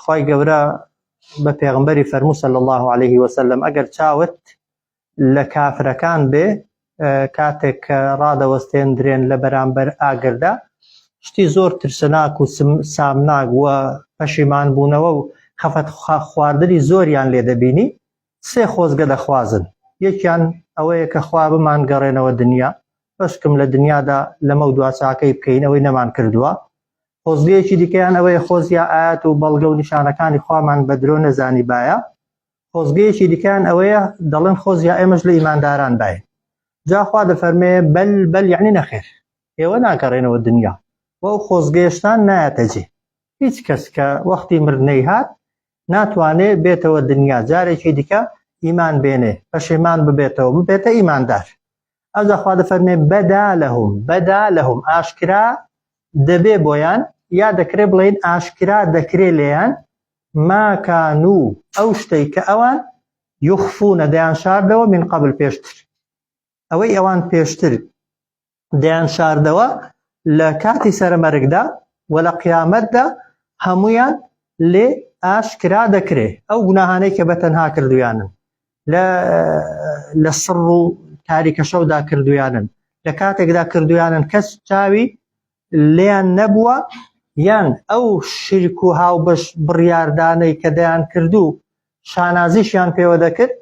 خوای گەورە بە پێغمبەری فەرموو صلی الله علیه وسلم ئەگەر چاوت لە کافرەکان بێ کاتێک کە ڕادەوەستێندرێن لە بەرامبەر ئاگردا شتی زۆر ترسناک و سامناک و پەشیمان بوونەوە و خەفەت خواردنی زۆریان لێ دەبینی سێ خۆزگە دەخوازن یەکیان ئەوەیە کە خوا بمان گەڕێنەوە دنیا بەشکم لە دنیادا لەمە و دواچاکەی بکەین ئەوەی نەمان کردووە خۆزگەیەکی دیکەیان ئەوەیە خۆزیا ئایات و بەڵگە و نیشانەکانی خوامان بە درۆ نەزانیبایە، خۆزگەیەکی دیکەیان ئەوەیە دەڵێن خۆزیا ئێمەش لە ئیمانداران باین، جا خوا دەفەرمێ بەل بەل یەعنی نەخێر ئێوە ناگەڕێنەوە دنیا و ئەو خۆزگەیەشتان نایەتە جێ، هیچ کەس کە وەختی مردنەی هات ناتوانێ بێتەوە دنیا جارێکی دیکە ئیمان بێنێ، پەشێمان ببێتەوە ببێتە ئیماندار، ئەوجا خوا دەفەرمێ بەدا لەهم بەدا لەهم ئاشکرا دەبێ بۆیان یا دەکرێ بڵێن ئاشکرا دەکرێ لێیان ماکان و ئەو شتەی کە ئەوان یخفونە دەیان شاردەوە من قبل پێشتر ئەوەی ئەوان پێشتر دەیان شاردەوە لە کاتی سەرمەرگدا و لە قیامەتدا هەمویان لێ ئاشکرا دەکرێ ئەو گوناهانەی کە بەتەنها کردویانن لە لە سڕ و تاریکە شەودا کردویانن لە کاتێکدا کردویانن کەس چاوی لێیان نەبووە یان ئەو شرک و هاوبەش بڕیاردانەی کە دەیان کردو شانازیشیان پێوە دەکرد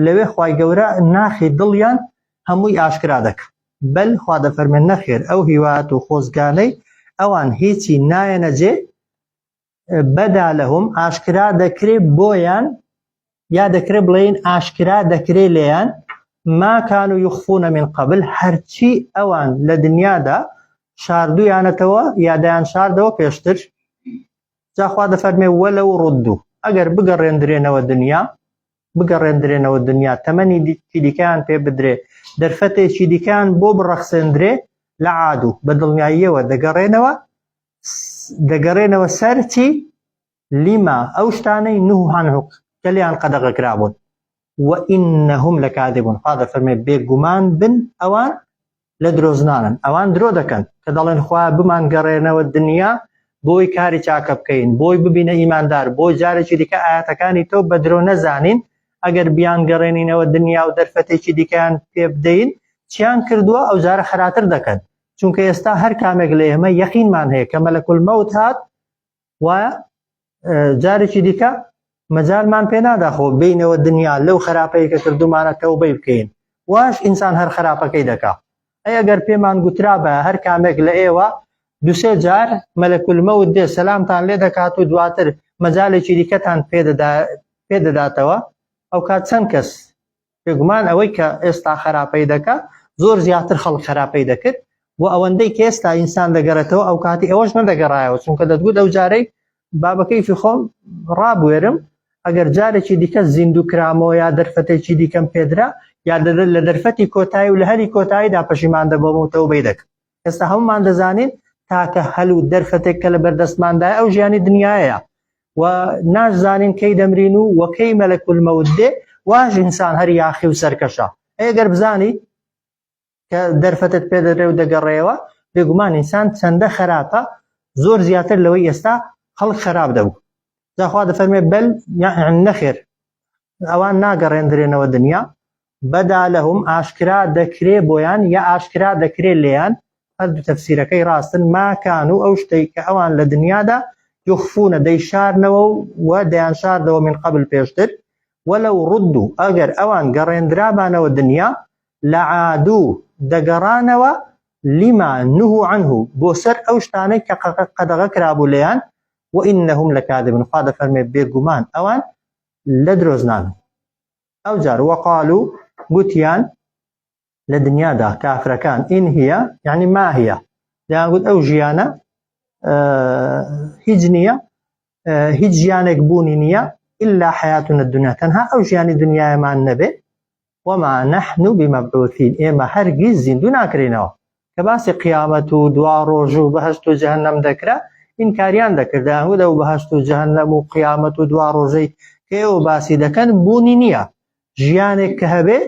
لەوێ خی گەورە ناخی دڵیان هەمووی ئاشکرا دەکە بەل خوا دەفەرمێن نەخێر ئەو هیوات و خۆزگانەی ئەوان هیچی نایەنە جێ بدا لهم ئاشکرا دەکرێ بۆیان یا دەکرێ بڵێین ئاشکرا دەکرێ لێیان ما کانوا یخفون من قبل هەرچی ئەوان لە دنیادا شاردویانەتەوە یا دەیان شاردەوە پێشتر جاخوا دەفەرمێ وەلە و ڕدوو ئەگەر بگەڕێندرێنەوە دنیا بگەڕێندرێنەوە دنیا تەمەنی دیکەیان پێ بدرێ دەرفەتێکی دیکەیان بۆ بڕەخسێندرێ لە عادو بە دڵنیاییەوە دەگەڕێنەوە دەگەرێنەوە سەر چی لیما ئەو شتانەی نوح هەنهوق کە لیان قەدەغە کرابوون وئینهم لە کادبوون خوا دەفەرمێ بێگومان بن ئەوان لە درۆزنانن ئەوان درۆ دەکەن کە دەڵێن خوا بمان گەڕێنەوە دنیا بۆی کاری چاکە بکەین بۆی ببینە ئیماندار بۆ جارێکی دیکە ئاەتەکانی تۆ بە درۆ نەزانین ئەگەر بیان گەڕێنینەوە دنیا و دەرفەتێکی دیکەیان پێ بدەین چیان کردووە ئەو جارە خراتر دەکەن چونکە ئێستا هەر کامێک لە ئێمە یەقینمان هەیە کە مەلەکل مەوت هات و جارێکی دیکە مەجارمان پێ ناداخۆ بینەوە دنیا لەو خراپەیە کە کردومانە تەوبەی بکەین واش ئینسان هەر خراپەکەی دەکا ئەی ئەگەر پێمان گوترا بە هەر کامێک لە ئێوە دوسێ جار مەلەکل مەوت دێ سەلامتان لێ دەکات و دواتر مەجالێکی دیکەتان پێدەداتەوە ئەو کات چەند کەس بێگومان ئەوەی کە ئێستا خەراپەی دەکا زۆر زیاتر خەڵک خەراپەی دەکرد و ئەوەندەی کە ئێستا ئینسان دەگەڕێتەوە ئەو کاتی ئەوەش نەدەگەڕایەوە چونکە دەتگوت ئەو جارەی بابەکەیفی خۆم ڕابوێرم ئەگەر جارێکی دیکە زیندوو کرامەوە یا دەرفەتێکی دیکەم پێدرا یا لە دەرفەتی کۆتایی و لە هەری کۆتاییدا پەشیمان دەبەمەوە تەوبەی دەکەم ئێستا هەمومان دەزانین تاکە هەل و دەرفەتێک کە لە بەردەستماندای ئەو ژیانی دنیاە و ناشزانین کەی دەمرین و وەکەی مەلەکول مەود دێ واش ئینسان هەر یاخی و سەرکەشە ئەگەر بزانی کە دەرفەتت پێدەرێ و دەگەڕێەوە بێگومان ئینسان چەندە خراپە زۆر زیاتر لەوەی ئێستا خەڵک خراپ دەبوو داخوا دەفەرمێ بەل نەخێر ئەوان ناگەڕێندرێنەوە دنیا بدا لهم ئاشکرا دەکرێ بۆیان یا ئاشکرا دەکرێ لێیان، هەردوو تەفسیرەکەی ڕاستن، ما کانو ئەو شتەی کە ئەوان لە دنیادا، یخفونە دەیشارنەوە و و دەیانشاردەوە من قبل پێشتر، ولو ردو ئەگەر ئەوان گەڕێندرابانەوە دنیا لعادو دەگەڕانەوە لما نهو عنه بۆ سەر ئەو شتانەی کە قەدەغە کرابوو لێیان وانهم لکاذبون خوا دەفەرموێ بێگومان ئەوان لە درۆزنانن. ئەوجار وقالوا گوتیان لە دنیادا کافرەکان ان هی یعنی ماهیە دەیان گوت ئەو ژیانە هیچ نییە هیچ ژیانێک بوونی نییە إلا حياتنا الدنيا تەنها ئەو ژیانی دنیایەمان نەبێ وما نحن بمبعوثين ئێمە هەرگیز زیندوو ناکرێنەوە کە باسی قیامەت و دوا ڕۆژ و بەهشت و جەهنم دەکرا ئینکاریان دەکرد دەیانگوت ئەو بەهشت و جەهنم و قیامەت و دوا ڕۆژەی کە ئێوە باسی دەکەن بوونی نییە ژیانێک کە هەبێ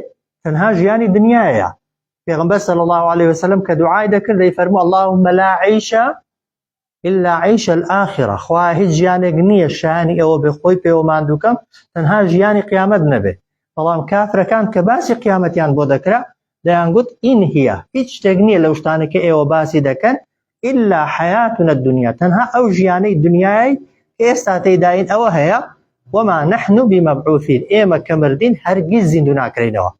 تەنها ژیانی دنیایە پێغمبەر صلی الله عليه وسلم کە دوعای دەکرد دەیفەرموو اللهم لا عیشە الا عیش الاخرە خوایە هیچ ژیانێک نییە شایانی ئەوە بێ خۆی پێوە ماندووکەم تەنها ژیانی قیامەت نەبێ بەڵام کافرەکان کە باسی قیامەتیان بۆ دەکرا دەیانگوت ئین هیە هیچ شتێک نییە لەو شتانە کە ئێوە باسی دەکەن ئللا حەیاتونە دنیا تەنها ئەو ژیانەی دنیای ئێستا تێداین ئەوە هەیە وما نحن بمبعوثین ئێمە کە مردین هەرگیز زیندوو ناکرینەوە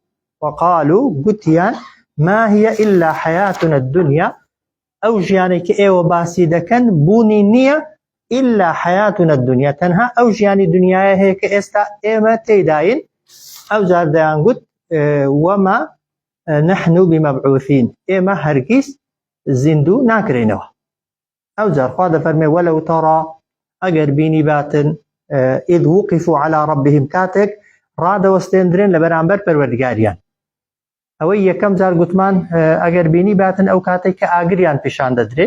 وقالو گوتیان ما هي إلا حياتنا الدنيا ئەو ژیانەی کە ئێوە باسی دەکەن بوونی نییە ئیلا حەیاتونە الدنیا تەنها ئەو ژیانی دنیایە هەیە کە ئێستا ئێمە تێیداین ئەوجار دەیانگوت وەما نحن بمبعوثین ئێمە هەرگیز زیندوو ناکرێنەوە ئەوجار خوا دەفەرمێ وەلەو تەڕا ئەگەر بینی باتن ئید وقف و علا ڕبهم کاتێک ڕادەوەستێندرێن لە بەرامبەر پەروەردگاریان ئەوەی یەکەم جار گوتمان ئەگەر بینی باتن ئەو کاتێک کە ئاگریان پیشان دەدرێ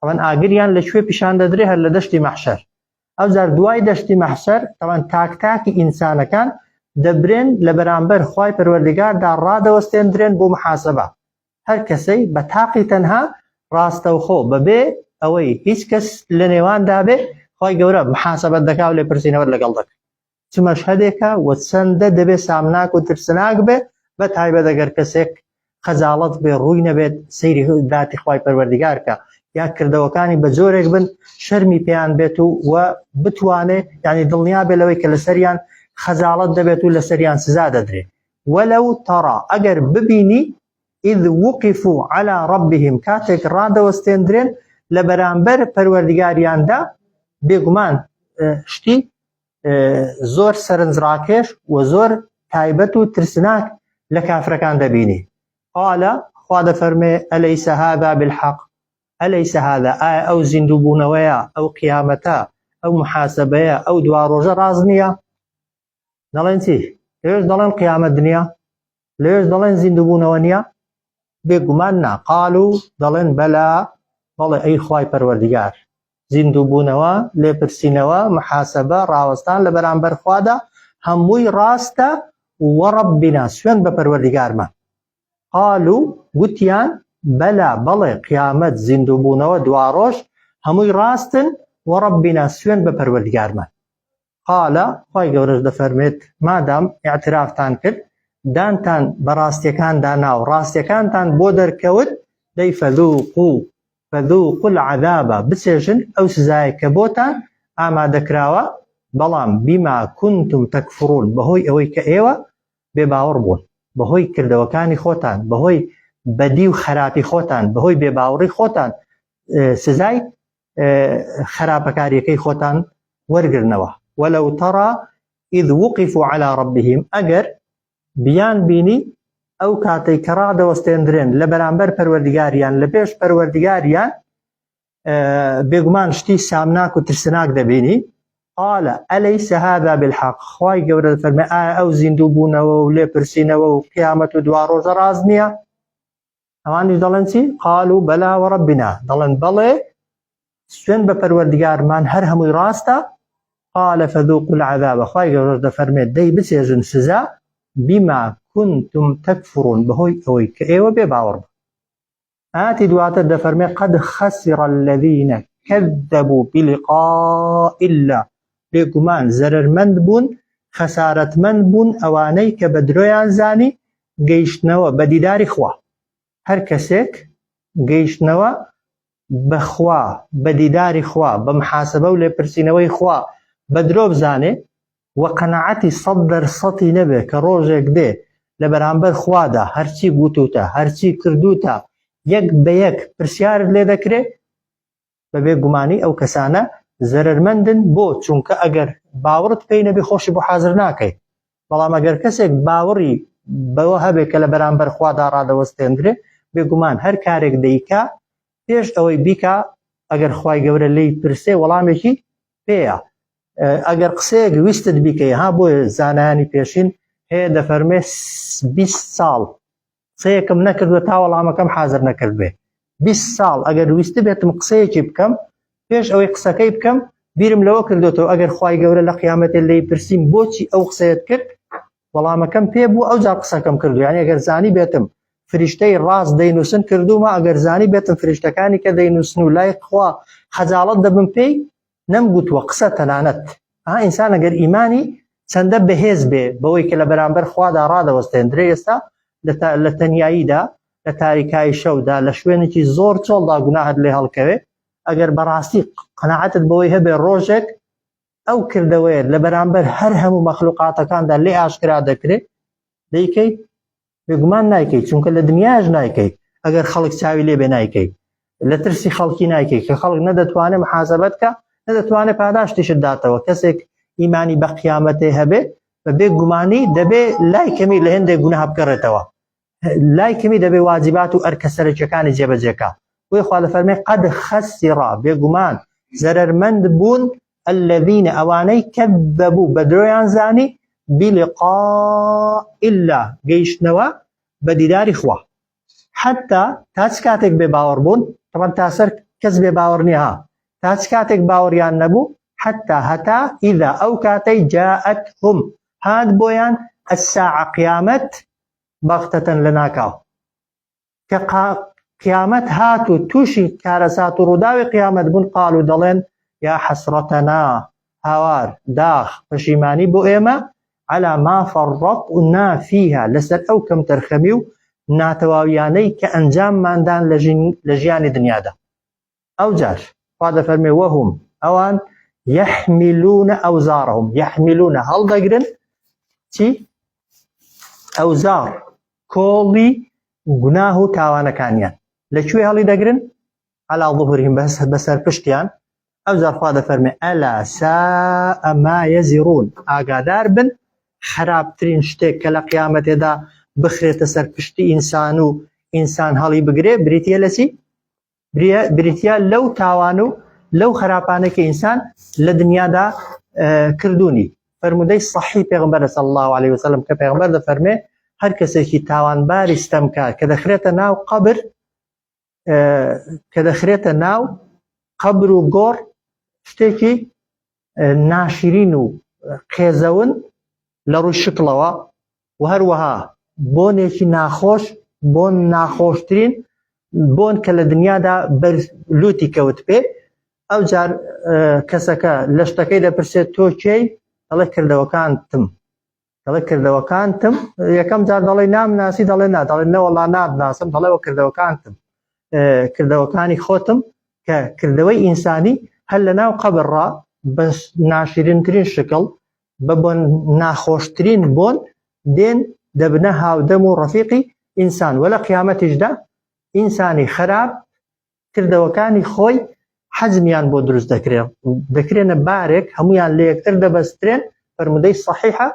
ئەوەن ئاگریان لە کوێ پیشان دەدرێ هەر لە دەشتی مەحشەر ئەو جار دوای دەشتی مەحشەر تەوان تاک تاکی ئینسانەکان دەبرێن لە بەرامبەر خی پەروەردگاردا ڕادەوەستێندرێن بۆ محاسبە هەر کەسەی بە تاقی تەنها ڕاستەوخۆ بەبێ ئەوەی هیچ کەس لە نێواندا بێ خی گەورە محاسبەت دەکا و لێ پرسینەوە لەگەڵ دەکە چ مەشهەدێکە و چەندە دەبێت سامناک و ترسناک بێت بە تایبەت ئەگەر کەسێک خەجاڵەت بێ ڕووی نەبێت سەیری داتی خوای پەروەردیگارکە یا کردەوەکانی بە جۆرێک بن شەرمی پێیان بێت و و بتوانێت ینی دڵنیا بێ لەوەی کە لەسەریان خەجاڵت دەبێت و لەسەریان سزا دەدرێت وەلو تەڕا ئەگەر ببینی ئید وقف و علا ڕبیهم کاتێک ڕادەوەستێندرێن لە بەرامبەر پەروەردگاریاندا بێگومان شتی زۆر سەرنجڕاکێش و زۆر تایبەت و ترسناک لە کافرەکان دەبینی قالە خوا دەفەرمێ ئەلەی سەهادا بالحەق ئەلەی سەهادا ئایا ئەو زیندوو بوونەوەیە ئەو قیامەتە ئەو محاسبەیە ئەو دوا ڕۆژە ڕاز نییە دەڵێن چی پێش دەڵێن قیامەت دنیا لێش دەڵێن زیندوبوونەوە نییە بێگومان نا قال و دەڵێن بەلا بەڵێ ئەی خوای پەروەردگار زیندوبوونەوە لێپرسینەوە محاسبە ڕاوەستان لە بەرامبەر خوادا هەمووی ڕاستە وەڕبینا سوێن بە پەروەردگارمە قال و گوتیان بەلا بەڵێ قیامەت زیندوبوونەوە دواڕۆژ هەمووی ڕاستن وەڕبینا سوێن بە پەروەردگارمە قال، خوای گەورەش دەفەرموێت، مادام ئیعترافتان کرد، دانتان بە ڕاستیەکاندا نا و ڕاستیەکانتان بۆ دەرکەوت، دەی فذوقو، فذوقو العذاب، بچێژن ئەو سزایەی کە بۆتان ئامادەکراوە، بەڵام بما کنتم تکفرون، بەهۆی ئەوەی کە ئێوە بێ باوەڕ بوون، بەهۆی کردەوەکانی خۆتان، بەهۆی بەدی و خەراپی خۆتان، بەهۆی بێ باوڕی خۆتان سزای خراپەکاریەکەی خۆتان وەرگرنەوە وەلو تەڕا ئید وقف و علا ڕبیهیم ئەگەر بیان بینی ئەو کاتەی کە ڕادەوەستێندرێن لە بەرامبەر پەروەردگاریان لە پێش پەروەردگاریان بێگومان شتی سامناک و ترسناک دەبینی قال ئەلەی سەهادا بالحق خی گەورە فەرمە ئایا ئەو زیندوو بوونەوە و لێپرسینەوە و قیامەت و دوا ڕۆژە ڕاز نییە ئەوانیش دەڵێن چی قالو بەلا وەڕەبینا دەڵێن بەڵێ سوێن بە پەروەردگارمان هەر هەمووی ڕاستە قال فذوق العذاب خوای گەورەش دەفەرمێت دەی بچێژن سزا بما كنتم تكفرون بەهۆی ئەوەی کە ئێوە بێ باوەڕ بوو ئاتی دواتر دەفەرمێ قد خسر الذين كذبوا بلقاء الله بێگومان زەرمەند بوون خەسارەتمەند بوون ئەوانەی کە بە درۆیان زانی گەیشتنەوە بە دیداری خوا. هەر کەسێک گەیشتنەوە بە خوا، بە دیداری خوا، بە محاسبە و لێپرسینەوەی خوا بە درۆ بزانێ و قەناعەتی سەد دەر سەتی نەبێ کە ڕۆژێک دێ لە بەرامبەر خوادا هەرچی گوتووتە، هەرچی کردووتە یەک بە یەک پرسیارت لێ دەکرێ، بەبێ گومانی ئەو کەسانە زەرەرمەندن بۆ چونکە ئەگەر باوەڕت پێی نەبێ خۆشی بۆ حازر ناکەی بەڵام ئەگەر کەسێک باوەڕی بەوە هەبێ کە لە بەرامبەر خوادا ڕادەوەستێندرێ بێگومان هەر کارێک دەیکا پێش ئەوەی بیکا ئەگەر خی گەورە لی پرسێ وەڵامێکی پێەیە ئەگەر قسەیەک ویستت بیکەی ها بۆیە زانانی پێشین هەیە دەفەرمێ 20 ساڵ قسەیەکم نەکردوە تا وەڵامەکەم حازر نەکردبێ بیست ساڵ ئەگەر ویستبێتم قسەیەکی بکەم پێش ئەوەی قسەکەی بکەم بیرم لەوە کردوێتەوە ئەگەر خی گەورە لە قیامەتێ لی پرسییم بۆچی ئەو قسەیەت کرد وەڵامەکەم پێ بوو ئەو جار قسەکەم کردو یان ئەگەر زانی بێتم فریشتەی ڕاست دەینووسن کردومە ئەگەر زانی بێتم فریشتەکانی کە دەینووسن و لای خوا خەجاڵت دەبم پێی نەم گوتووە قسە تەنانەت ئا ئینسان ئەگەر ئیمانی چەندە بەهێز بێ بەوەی کە لە بەرامبەر خوادا ڕادەوەستێندرێ ئێستا لە تەنیاییدا لە تاریکایی شەودا لە شوێنێکی زۆر چۆڵدا گوناهت لێ هەڵکەوێ ئەگەر بەڕاستی قەنەعەتت بەوەی هەبێ ڕۆژێک ئەو کردەوەیە لە بەرامبەر هەر هەموو مەخلوقاتەکاندا لێ ئاشکرا دەکرێت دەیکەیت بێگومان نایکەیت چونکە لە دنیاش نایکەیت ئەگەر خەڵک چاوی لێ بێ نایکەیت لە ترسی خەڵکی نایکەیت کە خەڵک نەدەتوانێت محاسبەت کە نەدەتوانێت پاداشتیشت داتەوە کەسێک ئیمانی بە قیامەتێ هەبێت بە بێ گومانی دەبێ لای کەمی لە هێندێک گونە هەبگەڕێتەوە لای کەمی دەبێ واجبات و ئەرکە سەرەکیەکانی جێبەجێکە بۆی خوا لە فەرمی قەد خەستی ڕا بێگومان زەرمەند بوون الذین ئەوانەی کەذبوو بە درۆیان زانی بلقاء اللە گەیشتنەوە بە دیداری خوا حتا تا چ کاتێک بێ باوەڕ بوون تەبەن تا سەر کەس بێ باوەڕ نییە ها تا چ کاتێک باوەڕیان نەبوو حتا هەتا ئیدا ئەو کاتەی جاءت هم هات بۆیان الساعە قیامەت بەغتەتەن لە ناکاو کە قیامەت هات و تووشی کارەسات و ڕووداوی قیامەت بوون قال و دەڵێن یا حەسرەتەنا هاوار داخ پەشیمانی بۆ ئێمە على ما فرطنا فيها لەسەر ئەو کەم تەرخەمی و ناتەواویانەی کە ئەنجامماندان لە ژیانی دنیادا ئەوجار خوا دەفەرمێ وەهم ئەوان یحملون ئەوزارهم یحملون هەڵدەگرن چی ئەوزار کۆڵی گوناه و تاوانەکانیان لەکوێ هەڵی دەگرن علا ظهورهم بەس بەسەر پشتیان ئەو جارخوا دەفەرمێ ئەلا سا ئەما یەزیڕون ئاگادار بن خراپترین شتێک کە لە قیامەتێدا بخرێتە سەر پشتی ئینسان و ئینسان هەڵی بگرێ بریتە لەسی بریتیە لەو تاوان و لەو خراپانەی کە ئینسان لە دنیادا کردوونی فەرمودەی صحی پێغمبەر صلی الله عليه وسلم کە پێغمبەر دەفەرمێ هەر کەسێکی تاوانباری ستەمکار کە دەخرێتە ناو قبر کە دەخرێتە ناو قبر و گۆڕ شتێکی ناشرین و قێزەون لە ڕووی شکڵەوە و هەروەها بۆنێکی ناخۆش بۆن ناخۆشترین بۆن کە لە دنیادا بەر لوتی کەوت پێ ئەو جار کەسەکە لە شتەکەی دەپرسێت تۆ کێی دەڵێ کردەوەکانتم دەڵێ کردەوەکانتم یەکەم جار دەڵێ نامناسی دەڵێ نا دەڵێ نەوەڵا نادناسم دەڵێ وە کردەوەکانتم کردەوەکانی خۆتم کە کردەوەی ئینسانی هەر لە ناو قەبڕا بە ناشرینترین شکڵ بە بۆ ناخۆشترین بۆن دێن دەبنە هاودەم و ڕفیقی ئینسان وە لە قیامەتیشدا ئینسانی خراپ کردەوەکانی خۆی حەجمیان بۆ دروست دەکرێن دەکرێنە بارێک هەمویان لە یەکتر دەبەسترێن فەرمودەی صحیحە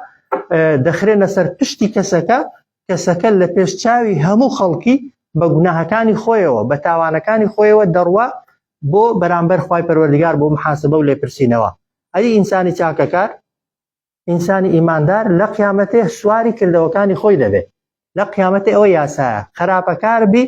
دەخرێنە سەر پشتی کەسەکە کەسەکە لە پێش چاوی هەموو خەڵکی بە گوناهەکانی خۆیەوە بە تاوانەکانی خۆیەوە دەڕوا بۆ بەرامبەر خی پەروەردگار بۆ محاسبە و لێپرسینەوە ئەی ئینسانی چاکەکار ئینسانی ئیماندار لە قیامەتێ سواری کردەوەکانی خۆی دەبێت لە قیامەتێ ئەوە یاسایە خراپەکار بی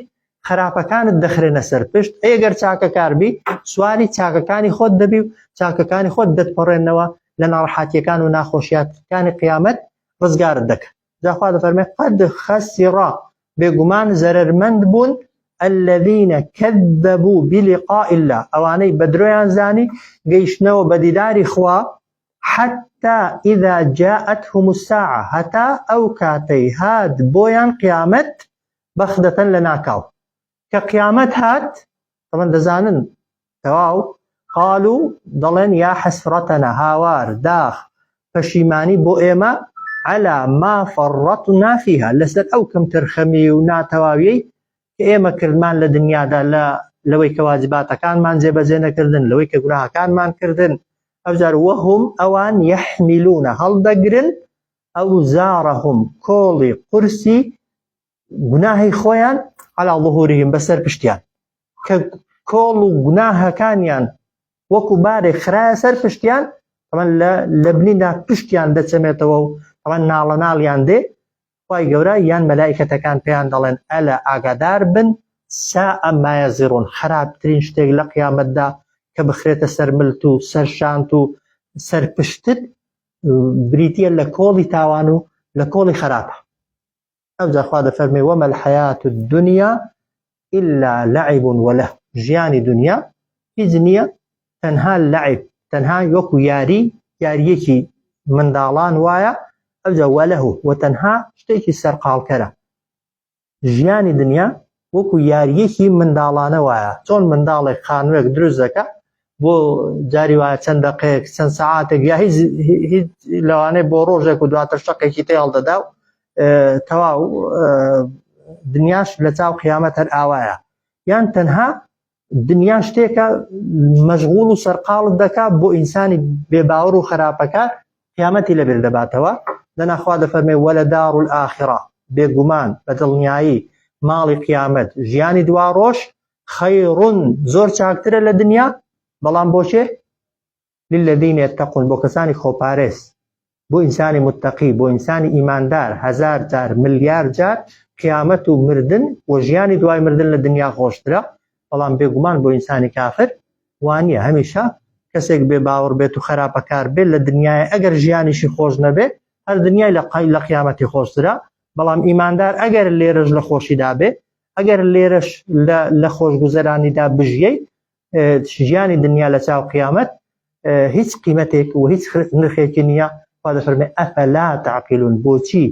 خراپەکانت دەخرێنە سەر پشت ئەگەر چاکەکار بی سواری چاکەکانی خۆت دەبی و چاکەکانی خۆت دەتپەڕێنەوە لە ناڕحاتیەکان و ناخۆشیاتەکانی قیامەت ڕزگارت دەکەن جا خوا دەفەرمێ قەد خەسیڕا بێگومان زەرەرمەند بوون الذین کذبو بلقاء الله ئەوانەی بە درۆیان زانی گەیشتنەوە بە دیداری خوا حتى اذا جاءتهم الساعە هەتا ئەو کاتەی هات بۆیان قیامەت بەخدەتەن لە ناکاو کە قیامەت هات تەڵەن دەزانن تەواو قال و دەڵێن یا حەسرەتەنە هاوار داخ پەشیمانی بۆ ئێمە علا ما فەڕەت و نافیها لەسەر ئەو کەم تەرخەمی و ناتەواویەی کە ئێمە کردمان لە دنیادا لە لەوەی کە واجباتەکانمان جێبەجێ نەکردن لەوەی کە گوناهەکانمان کردن ئەوجار وەهم ئەوان یەحمیلونە هەڵدەگرن ئەو زارەهم کۆڵی قورسی گوناهی خۆیان علا ظهورهم بەسەر پشتیان کە کۆڵ و گوناهەکانیان وەکو بارێک خراە سەر پشتیان ئەمە لە لە بنیدا پشتیان دەچەمێتەوە و ئەمە ناڵە ناڵیان دێ خی گەورە یان مەلایکەتەکان پێیان دەڵێن ئەلە ئاگادار بن سا ئەمایە زیڕون خراپترین شتێک لە قیامەتدا کە بخرێتە سەر ملت و سەر شانت و سەر پشتت بریتە لە کۆڵی تاوان و لە کۆڵی خراپە ئەوجا خوا دەفەرمێ وما الحیات الدنیا الا لعب ولهو ژیانی دنیا هیچ نییە تەنها لعب تەنها وەکو یاری یاریەکی منداڵان وایە ئەوجا وەلهو و تەنها شتێکی سەرقاڵکەرە ژیانی دنیا وەکو یاریەکی منداڵانە وایە چۆن منداڵێک خانوێک دروست دەکا بۆ جاری وایە چەند دەقەیەک چەند سەعاتێک یا هیچ هیچ لەوانەیە بۆ ڕۆژێک و دواتر شەقێکی تێ هەڵدەدا و تەواو دنیاش لە چاو قیامەت هەر ئاوایە یان تەنها دنیا شتێکە مەشغول و سەرقاڵت دەکا بۆ ئینسانی بێباوەڕ و خراپەکە قیامەتی لەبێر دەباتەوە دەناخوا دەفەرمێ وە لە دار و ئاخرا بێگومان بە دڵنیایی ماڵی قیامەت ژیانی دوا ڕۆژ خەیڕون زۆر چاکترە لە دنیا بەڵام بۆچێ للذین یتقون بۆ کەسانی خۆپارێز بۆ ئینسانی متقی بۆ ئینسانی ئیماندار هزار جار ملیار جار قیامەت و مردن و ژیانی دوای مردن لە دنیا خۆشترە بەڵام بێگومان بۆ ئینسانی کافر وانە هەمیشە کەسێک بێ باوەڕ بێت و خراپەکار بێت لە دنیای ئەگەر ژیانیشی خۆش نەبێت هەر دنیای لە قای لە قیامەتی خۆشترە بەڵام ئیماندار ئەگەر لێرەش لە خۆشیدا بێ ئەگەر لێرەش لە خۆشگوزەرانیدا بژیەی ژیانی دنیا لە چاو قیامەت هیچ قیمەتێک و هیچ نرخێکی نییە خوا دەفەرمێ ئەفەلا تعقلون بۆچی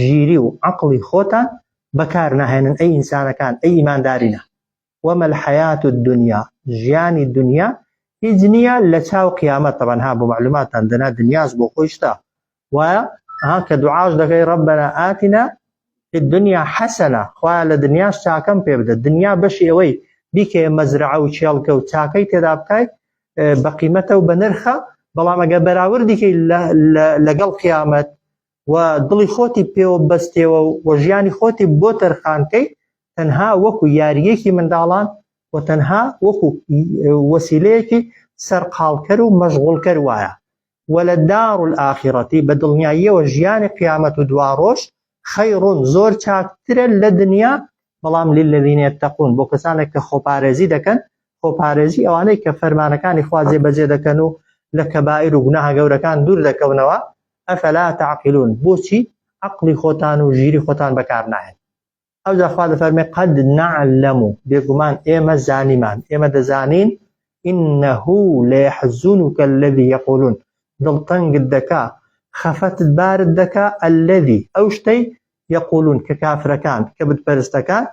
ژیری و عەقڵی خۆتان بەکار ناهێنن ئەی ئینسانەکان ئەی ئیماندارینە وما الحياة الدنيا ژیانی دنیا هیچ نییە لە چاو قیامەت تەبەنها بۆ معلوماتان دەنا دنیاش بۆ خۆی شتە وایە ها کە دوعاش دەکەی ربنا آتنا فی الدنیا حسنە خوایە لە دنیاش چاکەم پێ بدە دنیا بەشی ئەوەی بیکەیە مەزرعە و کێڵگە و چاکەی تێدا بکای بە قیمەتە و بە نرخە بەڵام ئەگە بەراوردیکەی لەگەڵ قیامەت و دڵی خۆتی پێوە بەستێەوە و ژیانی خۆتی بۆ تەرخانکەی تەنها وەکو یاریەکی منداڵان و تەنها وەکو وەسیلەیەکی سەرقالکەر و مەشغولکەر وایە ولدار الاخرە بە دڵنیاییەوە ژیانی قیامەت و دواڕۆژ خیر زۆر چاکترە لە دنیا بەڵام للذین یتقون بۆ کەسانێک کە خۆپارێزی دەکەن خۆپارێزی ئەوانەی کە فەرمانەکانی خوا جێبەجێ دەکەن و لە کەبائیر و گوناهە گەورەکان دوور دەکەونەوە افلا تعقلون بۆچی عەقڵی خۆتان و ژیری خۆتان بەکار ناهێن ئەوجا خوا دەفەرمێ قەد نەعلەم و بێگومان ئێمە زانیمان ئێمە دەزانین إنه ليحزنك الذي يقولون دڵتەنگت دەکا خەفەتت بارت دەکا الذي ئەو شتەی یەقولون کە کافرەکان کە بتپەرستەکان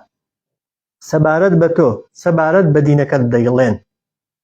سەبارەت بە تۆ سەبارەت بە دینەکەت دەیڵێن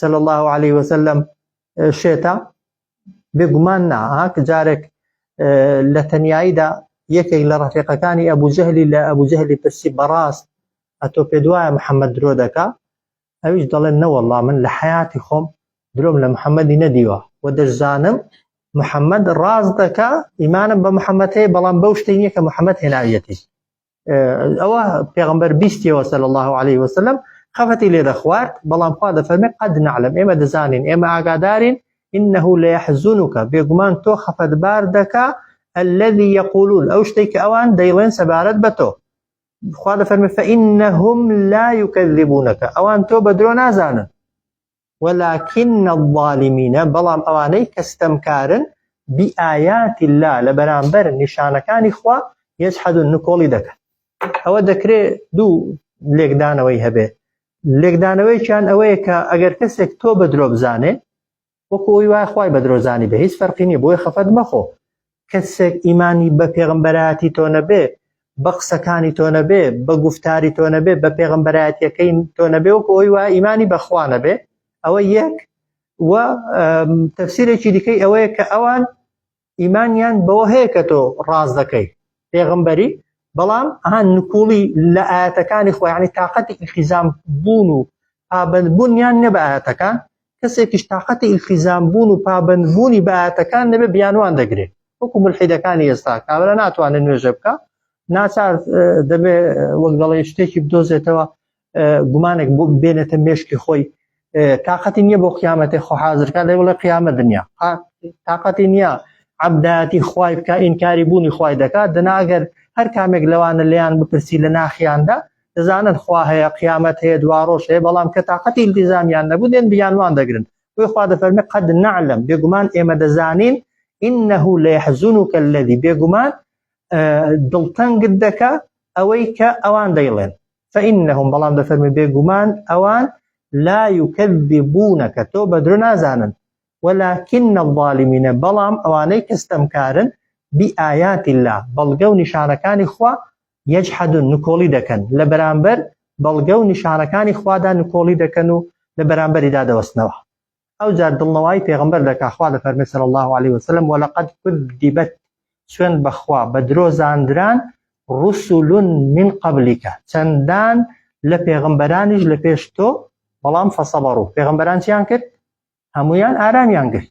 صلی الله علیه وسلم شێتە بێگومان نا هاک جارێک لە تەناییدا یەکێک لە ڕفێقەکانی ئەبوو جەهلی لە ئەبوو جەهلی پرسی بەڕاست ئەتۆ پێ دوایە محەممەد درۆ دەکا ئەویش دەڵێن نەوەڵا من لە حیاتی خۆم درۆم لە محەممەدی نەدیوە و دەشزانم محەممەد ڕاست دەکا ئیمانم بە محەممەد هەیە بەڵام بەو شتێنیە کە محەممەد هێناویەتی ئەوە پێغمبەر بیستیەوە سەل الله عليه وسلم خەفەتی لێ دەخوارد بەڵام خوا دەفەرمێ قەد نعلم ئێمە دەزانین ئێمە ئاگادارین إنه لا يحزنك بێگومان تۆ خەفەتبار دەکا الذي يقولون ئەو شتێک کە ئەوان دەیڵێن سەبارەت بە تۆ خوا دەفەرمێ فإنهم لا يكذبونك ئەوان تۆ بە درۆ نازانن ولکن الظالمین بەڵام ئەوانەی کە ستەمکارن بآیات اللە لە بەرامبەر نیشانەکانی خوا یجحدون نکۆڵی دەکەن ئەوە دەکرێ دوو لێکدانەوەی هەبێ لێکدانەوەیکیان ئەوەیە کە ئەگەر کەسێک تۆ بە درۆ بزانێ وەکو ئەوی وایە خوای بە درۆزانی بە هیچ فەرقی نیە بۆیە خەفەت مەخۆ کەسێک ئیمانی بە پێغەمبەرایەتی تۆ نەبێ، بە قسەکانی تۆ نەبێ، بە گوفتاری تۆ نەبێ، بە پێغەمبەرایەتیەکەی تۆ نەبێ وەکو ئەوەی وایە ئیمانی بە خوا نەبێ، ئەوە یەک و تەفسیرێکی دیکەی ئەوەیە کە ئەوان ئیمانیان بەوە هەیە کە تۆ ڕاز دەکەی پێغمبەری بەڵام ئەها نکوڵی لە ئاەتەکانی خۆیانی تااقەتی ئیخیزان بوون و پابندبوونیان نە بە ئاەتەکان کەسێکیش تاقەتی ئیلتیزام بوون و پابەند بوونی بە ئایەتەکان نەبێ بیانوان دەگرێ وەکو ملحیدەکانی ئێستا کابرا ناتوانێت نوێژە بکە ناچار دەبێ وەک دەڵێ شتێکی بدۆزێتەوە گومانێک بۆ بێنێتە مێشکی خۆی تااقەتی نییە بۆ قیامەتی خۆ حاضرکە لە وڵە قیامە دنیا تااقەتی نییە عبداتی خوای بکە ئینکاری بوونی خوای دەکات دەناگەر هەر کامێک لەوانە لیان بپرسی لە ناخیاندا دەزانن خوا هەیە قیامەت هەیە دواڕۆژ هەیە بەڵام کە تااقەتی التیزامیان نەبوو دێن بیانوان دەگرن بۆی خوا دەفەرمی قەد نعلم بێگومان ئێمە دەزانین إنه ليحزنك الذي بێگومان دڵتەنگت دەکە ئەوەی کە ئەوان دەیڵێن فإنهم بەڵام دەفەرمی بێگومان ئەوان لا يكذبونك تۆ بە درۆ نازانن ولكن الظالمینە بەڵام ئەوانەی کەستەمکارن بی ئاياتی الله بەڵگە و نیشانەکانی خوا یجحدون نکۆڵی دەکەن لە بەرامبەر بەڵگە و نیشانەکانی خوادا نکۆڵی دەکەن و لە بەرامبەریدا دەوەستنەوە ئەوجا دڵنەوایی پێغەمبەر دەکا خوا دەفەرمێ صلی اللە علیە وسلم ولقد کذبت سوێن بەخوا بە درۆ زاندران رسل من قبلك چەندان لە پێغەمبەرانیش لە پێش تۆ بەڵام فەسەبەڕ و پێغەمبەران چیان کرد هەمویان ئارامیان گرت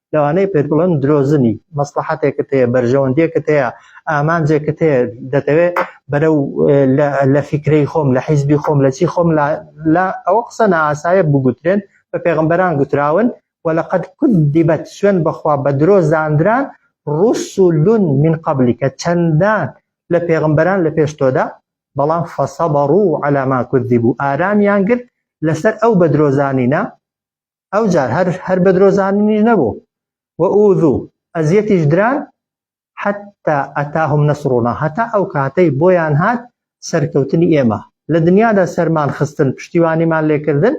لەوانەیە پێت بڵێن درۆزنی، مەسڵەحەتێکت هەیە، بەرژەوەندییەکت هەیە، ئامانجێکت هەیە، دەتەوێ بەرەو لە فیکرەی خۆم، لە حیزبی خۆم، لە چی خۆم لا، ئەوە قسە نائاسایە بگوترێن، بە پێغەمبەران گوتراون، وەلەقەد کوذبەت، سوێند بەخوا بە درۆ زاندران، ڕسول من قبلک، چەندان لە پێغەمبەران لە پێش تۆدا، بەڵام فصبروا علی ما کذبوا، ئارامیان گرت لەسەر ئەو بەدرۆزانینە، ئەو جار هەر هەر بە درۆزاننیش نەبوو و ئوزوو ئەزیەتیش دران حتا ئەتاهم نەسڕونا هەتا ئەو کاتەی بۆیان هات سەرکەوتنی ئێمە لە دنیادا سەرمان خستن پشتیوانیمان لێکردن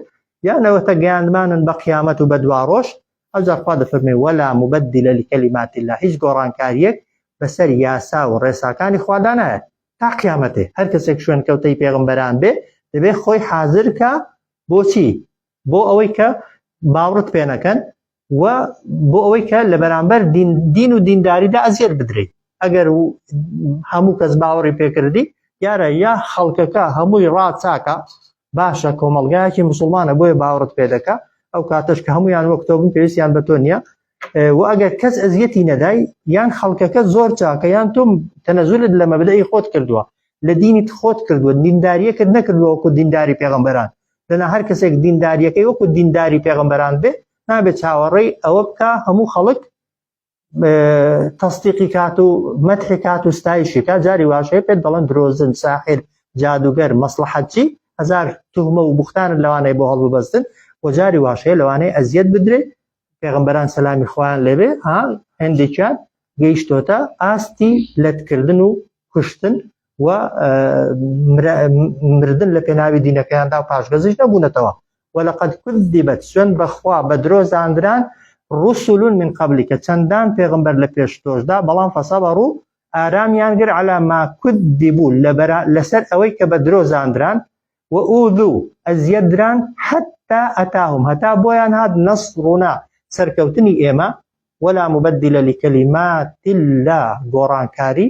یانەوەتە گەیاندمانن بە قیامەت و بە دواڕۆژ ئەو جارخوا دەفەرمێ وەلا مبدل لکلمات الله هیچ گۆڕانکاریەک بەسەر یاسا و ڕێساکانی خوادا نایە تا قیامەتێ هەر کەسێک شوێن کەوتەی پێغمبەران بێ دەبێ خۆی حازرکە بۆچی بۆ ئەوەی کە باوڕت پێ نەکەن و بۆ ئەوەی کە لە بەرامبەر دین و دینداریدا ئەزیێت بدریت ئەگەر هەموو کەس باوەڕی پێکردی دیارە یا خەڵکەکە هەمووی ڕاچاکە باشە کۆمەلگایەکی مسلمانە بۆیە باوەڕت پێ دەکە ئەو کاتەش کە هەمویان وەک تۆ بن پێویستیان بە تۆ نییە و ئەگەر کەس ئەزیەتی نەدای یان خەڵکەکە زۆر چاکە یان تۆم تەنەزولت لە مەبدەی خۆت کردووە لە دینیت خۆت کردووە دینداریەکرد نەکردووەکو دینداری پێغمبەران لەنا هەر کەسێک دینداریەکەی وەکو دینداری پێغمبەران بێ نابێت چاوەڕێی ئەوە بکە هەموو خەڵک تەستیقی کات و مەتحی کات و ستایشی کا جاری واشەیە پێت دەڵەن درۆزن ساحر جادوگەر مەسلحەتچی هزار توهمە و بوختان لەوانەیە بۆ هەڵببەستن و جاری واشەیە لەوانەیە ئەزیەت بدرێت پێغەمبەران سەلامی خوایان لێبێ ها هەندێکیان گەیشتۆتە ئاستی لەتکردن و کوشتن و مردن لە پێناوی دینەکەیاندا و پاشگەزیش نەبوونەتەوە وەلقد کردیبەت سوێن بەخوا بە درۆ زاندران ڕسولون من قبلی کە چەندان پێغمبەر لە پێش تۆشدا بەڵام فەسەبە ڕوو ئارامیان گر علا ما کود دیبوو لەسەر ئەوەی کە بە درۆ زاندران وئوذو، ئەزیەت دران، حتی اتاهم، هەتا بۆیان هات، نصرنا، سەرکەوتنی ئێمە، ولا مبدل لکلمات اللە، گۆڕانکاری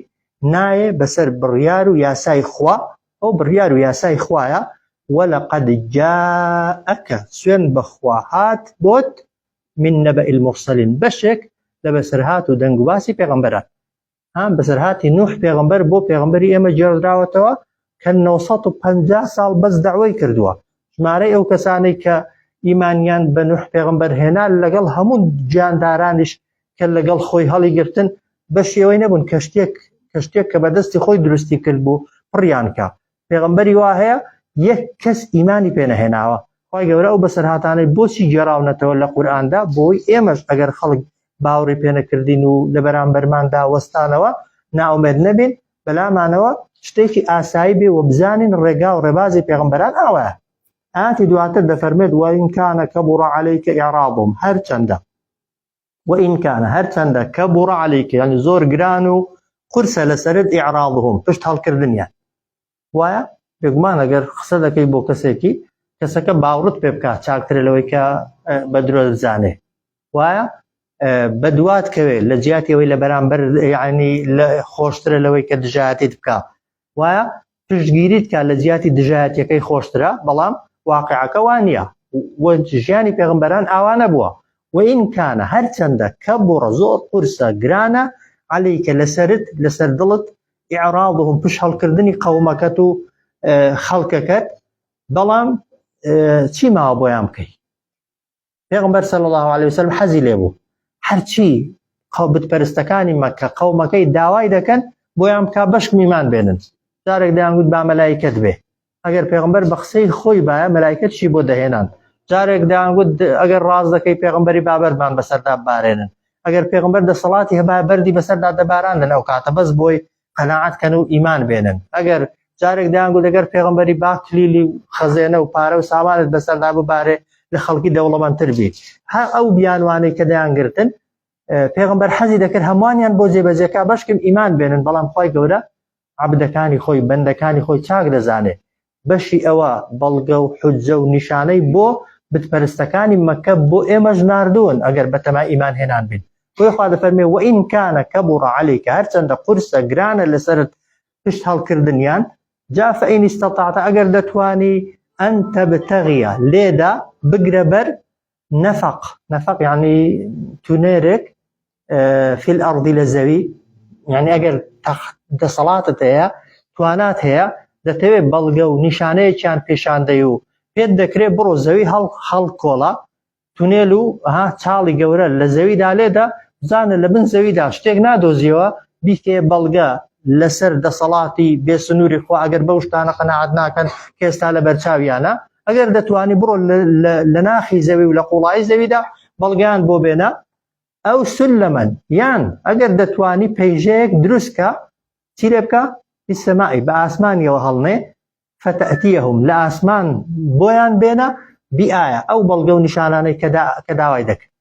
نایێ بەسەر بڕیار و یاسای خوا، ئەو بڕیار و یاسای خوایە، ولقد جاءک، سوێند بەخوا هات بۆت، من نبئ المرسلین، بەشێک لە بەسەرهات و دەنگوباسی پێغەمبەران، هان بەسەرهاتی نوح پێغمبەر بۆ پێغمبەری ئێمە جێڕدراوەتەوە کە 950 ساڵ بەس داوای کردووە ژمارەی ئەو کەسانەی کە ئیمانیان بە نوح پێغمبەر هێنا لەگەڵ هەموو جاندارانیش کە لەگەڵ خۆی هەڵی گرتن بە شێوەی نەبوون کەشتێک کەشتێک کە بەدەستی خۆی دروستی کرد بوو پڕیانکە پێغەمبەری وا هەیە یەک کەس ئیمانی پێ نەهێناوە خی گەورە ئەو بەسەرهاتانەی بۆچی گێڕاونەتەوە لە قورآاندا بۆی ئێمەش ئەگەر خەڵک باوەڕی پێنەکردین و لە بەرامبەرماندا وەستانەوە ناومێت نەبین بەلامانەوە شتێکی ئاسایی بێ و بزانین ڕێگا و ڕێبازی پێغمبەران ئاوە ئاتی دواتر دەفەرمێت وەینکانە کە بڕە عليهیکە ئێڕاڵبووم هەرچەندە وإن کان هەرچەندە کەبوڕ علیک یانی زۆر گران و قورسە لەسەرت ئیعراضهم پشت هەڵکردنیان وایە بێگومان ئەگەر قسە دەکەی بۆ کەسێکی کەسەکە باوڕت پێ بکات چاکترە لەوەی کە بە درۆ دەزانێ وایە بەدوات کەوێت لە جیاتی ئەوەی لە بەرامبەر یعنی لە خۆشترە لەوەی کە دژایەتیت بکە وایە پشتگیریت کا لە جیاتی دژایەتیەکەی خۆشترە بەڵام واقعەکە وا نیە و ژیانی پێغمبەران ئاوا نەبووە وئین کانە هەرچەندە کەبوڕە زۆر قورسە گرانە عەلیکە لەسەرت لەسەر دڵت ئیعراضهم پشت هەڵکردنی قەومەکەت و خەڵکەکەت بەڵام چی ماوە بۆیان بکەی. پێغمبەر صلی الله عليه وسلم حەزی لێ بوو هەرچی قەوبت پەرستەکانی مەکە قەومەکەی داوای دەکەن بۆیان بک بەشک میمان بێنن جارێک دەیانگووت با مەلایکت بێ ئەگەر پێغمبەر بە قسەی خۆی باە مەلایکەتشی بۆ دەهێنان جارێک دەیانگووت ئەگەر ڕاز دەکەی پێغمبەری بابەرمان بەسەردا بارێنن ئەگەر پێغمبەر دەسەڵاتی هەبا بەری بەسەردا دەباران لەناو کاتە بەس بۆی قەناعەت کەن و ئیمان بێنن ئەگەر جارێک دەیانگو لەگەر پێغمبەری با کلیلی و خەزێنە و پارە و سامانت بەسەردا ببارێ لە خەڵکی دەوڵەمەندتر بی هەر ئەو بیانوانەی کە دەیانگرتن پێغمبەر حەزی دەکرد هەمووانیان بۆ جێبەجێکا بەشکم ئیمان بێنن بەڵام خی گەورە عبدەکانی خۆی بەندەکانی خۆی چاک دەزانێ بەشی ئەوە بەڵگە و حوججە و نیشانەی بۆ بتپەرستەکانی مەکە بۆ ئێمەش ناردوون ئەگەر بەتەمای ئیمان هێنان بین بۆی خوا دەفەرمێ و ئین کانە کە بوو ڕعالی کە هەرچەندە قورسە گرانە لەسرت پشت هەڵکردنیان جا فەئین ئیستەتاعتە ئەگەر دەتوانی ئەن تەبتەغیە لێدا بگرە بەر نەفەق نەفەق یعنی تونێرێک فیل ئەڕدی لە زەوی یعنی ئەگەر دەسەڵاتت هەیە توانات هەیە دەتەوێت بەڵگە و نیشانەیەکیان پێشاندەی و پێت دەکرێت بڕۆ زەوی هەڵ هەڵ کۆڵە تونێل و ها چاڵی گەورە لە زەویدا لێدا بزانە لە بن زەویدا شتێک نادۆزیەوە بیکێ بەڵگە لەسەر دەسەڵاتی بێسنووری خۆ ئەگەر بەو شتانە قەنەعات ناکەن کێستا لە بەرچاویانە ئەگەر دەتوانی بڕۆ لە ناخی زەوی و لە قوڵایی زەویدا بەڵگیان بۆ بێنە ئەو سل لە من یان ئەگەر دەتوانی پەیژەیەک دروستکە چی لێ بکە سەماعی بە ئاسمانیەوە هەڵنێ فەتەتیەهم لە ئاسمان بۆیان بێنە بیئە ئەو بەڵگە و نیشانانەی کە داوای دەکرد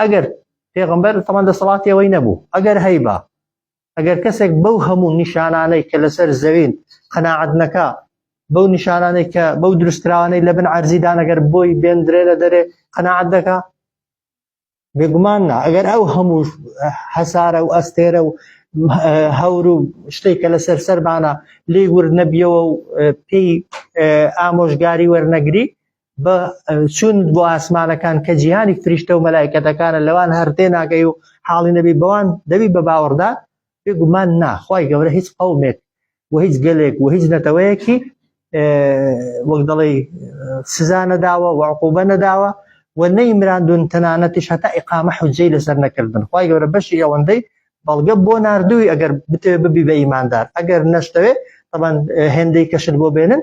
ئەگەر پێغمبەر تەمان دەسەڵاتیەوەی نەبوو ئەگەر هەیبا ئەگەر کەسێک بەو هەموو نیشانانەی کە لەسەر زەوین قەناعەت نەکا بەو نیشانانەی کە بەو دروستکراوانەی لە بن عەرزیدان ئەگەر بۆی بێندرێ لە دەرێ قەناعەت دەکا بێگومان نا ئەگەر ئەو هەموو هەسارە و ئەستێرە و هەور و شتێک کە لەسەر سەربانە لی ورد نەبیەوە و پێی ئامۆژگاری وەرنەگری بە چون بۆ ئاسمانەکان کە جیهانی فریشتە و مەلایکەتەکانە لەوان هەر تێناگەی و حاڵی نەبی بەوان دەبی بە باوەڕدا بێگومان نا خی گەورە هیچ قومێک و هیچ گەلێک و هیچ نەتەوەیەکی وەک دەڵێ سزا نەداوە وعقوبە نەداوە و نەیمراندون تەنانەتیش هەتا ئقامە حجەی لەسەر نەکردن خی گەورە بەشی ئەوەندەی بەڵگە بۆ نردووی ئەگەر بتێ ببی بە ئیماندار ئەگەر نەشتەوێ طبعا هێندەی کەشت بۆ بێنن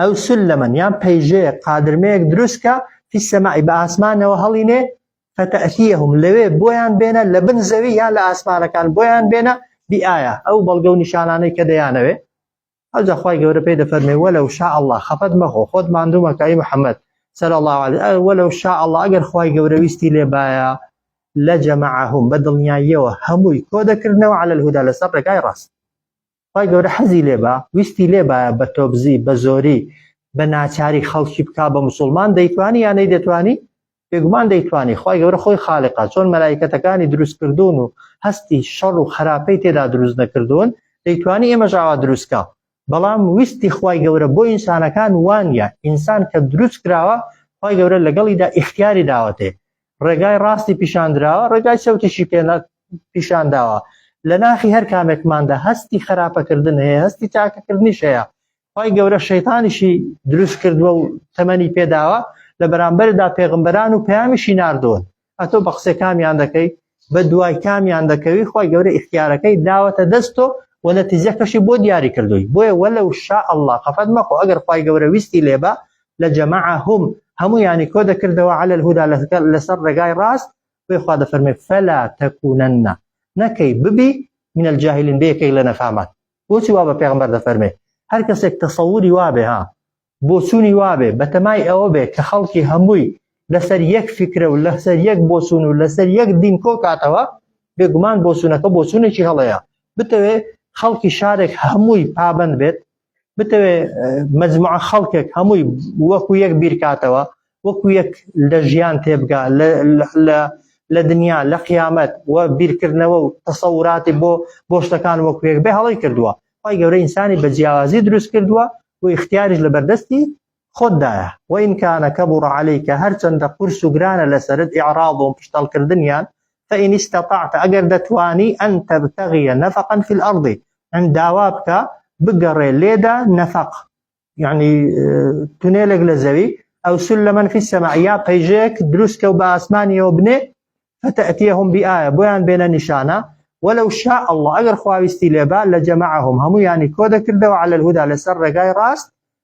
ئەو سلمەن یان پەیژەیەک قادرمەیەک دروست کە فی السماء بە ئاسمانەوە هەڵینێ فتأتیهم لەوێ بۆیان بێنە لە بن زەوی یان لە ئاسمانەکان بۆیان بێنە بئایە ئەو بەڵگە و نیشانانەی کە دەیانەوێ ئەوجا خوای گەورە پێی دەفەرمێ وەلە و شاء الله خەفەت مەخۆ خۆت ماندوو مەکای محەممەد سەر الله عليه وەلە و شاء الله ئەگەر خوای گەورە ویستی لێ باە لە جەمەعهم بە دڵنیاییەوە هەمووی کۆ دەکردنەوە على الهدى لەسەر ڕێگای ڕاست خوای گەورە حەزی لێبا ویستی لێبایە بە تۆبزی بە زۆری بە ناچاری خەڵکی بکا بە مسلمان دەیتوانی یانەی دەتوانی بێگومان دەیتوانی خی گەورە خۆی خاالقا چۆن مەلایکەتەکانی دروستکردوون و هەستی شەڕ و خراپەی تێدا دروست نەکردوون دەیتوانی ئێمە ژاوا دروستکە بەڵام ویستی خی گەورە بۆ ئینسانەکان وانە ئینسان کە دروست کراوە خی گەورە لەگەڵیدا ئیختیاری داوەتێ ڕێگای ڕاستی پیشاندراوە ڕێگای چەوتیشی پێ پیشانداوە لە ناخی هەر کامێکماندا هەستی خراپەکردن هەیە هەستی تاکەکردنیش هەیە خی گەورە شەیتانیشی دروست کردووە و تەمەنی پێداوە لە بەرامبەردا پێغمبەران و پەیامیشی نردون ئەتۆ بە قسێ کامیان دەکەی بە دوای کامیان دەکەوی خی گەورە ئختیارەکەی داوەتە دەستۆ و نەتیزەکەشی بۆ دیاری کردووی بۆیە وە لە شا ئەله خەفەت مەخۆ ئەگەر خی گەورە ویستی لێبە لجمعهم هەموویانی کۆ دەکردەوە علی الهدی لەسەر لەسەر ڕێگای ڕاست بۆیە خوا دەفەرمێ فلا تکونن نەکەی ببی من الجاهلین بە یەکێک لە نەفامان بۆچی وا بە پێغمبەر دەفەرمێ هەر کەسێک تەسەوری وابێ ها بۆچوونی وابێ بەتەمای ئەوە بێ کە خەڵکی هەمووی لەسەر یەک فکرە و لەسەر یەک بۆچوون و لەسەر یەک دین کۆ کاتەوە بێگومان بۆچوونەکە بۆچوونێکی هەڵەیە بتەوێ خەڵکی شارێک هەمووی پابند بێت بتەوێ مجموعە خەڵکێک هەمووی وەکو یەک بیرکاتەوە وەکو یەک لە ژیان تێبگا لە دنیا لە قیامەت و بیرکردنەوە و تەسەوراتی بۆ بۆ شتەکان وەکوێک بێ هەڵی کردووە خی گەورە ئینسانی بە جیاوازی دروست کردووە و اختیاریش لە بەردەستی خۆت دایە، وان کان کبر علیک هەرچەندە قورس و گرانە لەسەرت اعراضهم پشتەڵکردنیان، فان استطعت ئەگەر دەتوانی ان تبتغی نفقا فی الارض ان داوا بکە بگەڕێ لێدا نفق یەعنی تونێلێک لە زەوی او سلما فی السماء یا پەیژەیەک دروست کە و بە ئاسمانیەوە بنێ فتأتیهم بآیە بۆیان بێنە نیشانە ولو شاء اللە ئەگەر خوا ویستی لێبا لەجمعهم هەموویانی کۆدەکردەوە علی الهدی لەسەر ڕێگای ڕاست